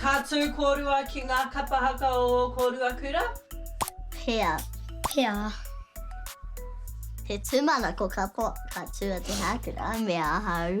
Ka tū kōrua ki ngā kapa haka o ō kōrua kura? Pea. Pea. He tūmanako kapo ka tū a Te Hākura me ahau.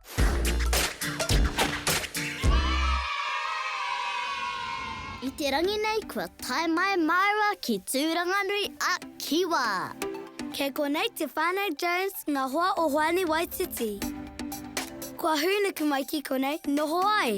I te rangi nei kua tae mai māua ki Tūranganui a Kiwa. Kei konei te Whānau Jones ngā hoa o Hoani Waititi. Kua hūnuku mai ki konei noho ai.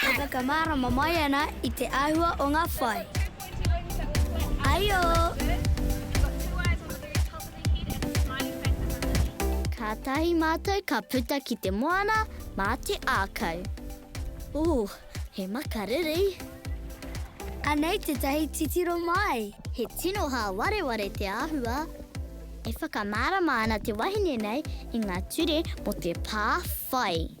E whakamārama mai ana i te āhua o ngā whai. Aio! Kātahi mātou ka puta ki te moana mā te ākau. Ooh! He makariri. Anei tētahi titiro mai. He tino hāwareware te āhua. E whakamārama ana te wahine nei i ngā ture mō te pā whai.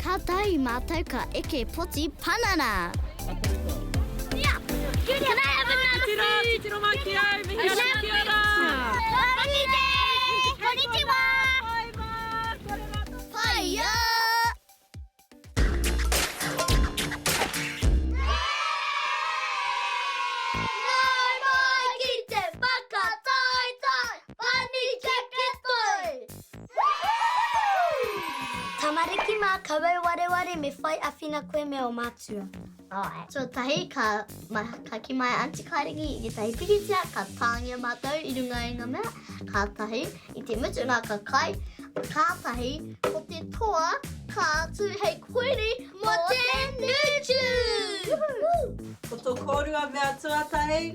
Kātahi mātou ka eke poti panana! Tamariki mā, kawau wareware me whai awhina koe me o mātua. Alright, tuatahi ka, ma, ka ki mai Aunty Kairangi i tētahi pikitia, ka tāngia mātou i runga i ngā mea, kātahi, i te mutu nā ka kai, kātahi, ko te toa, ka atu hei koiri mō te nūtū! Ko tō kōrua mea tuatahi,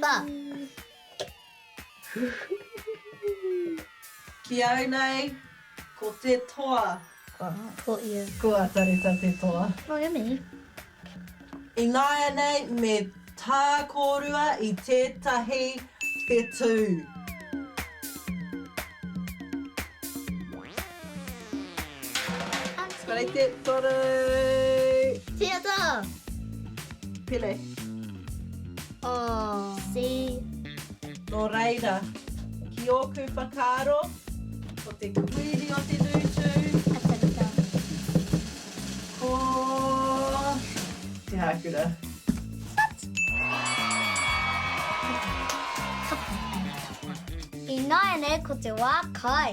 Ba. Ki au nei, ko te toa. Kua ko ia. Kua tareta te toa. Oh, yummy. Ināianei me tā kōrua i tētahi whetū. Kare te toro! Tia ta! Pele. Oh. Si. No reira, ki oku whakaaro, ko te kuiri o te nutu. Atarika. Ko. Te hakura. What? Ina ene ko te wa kai.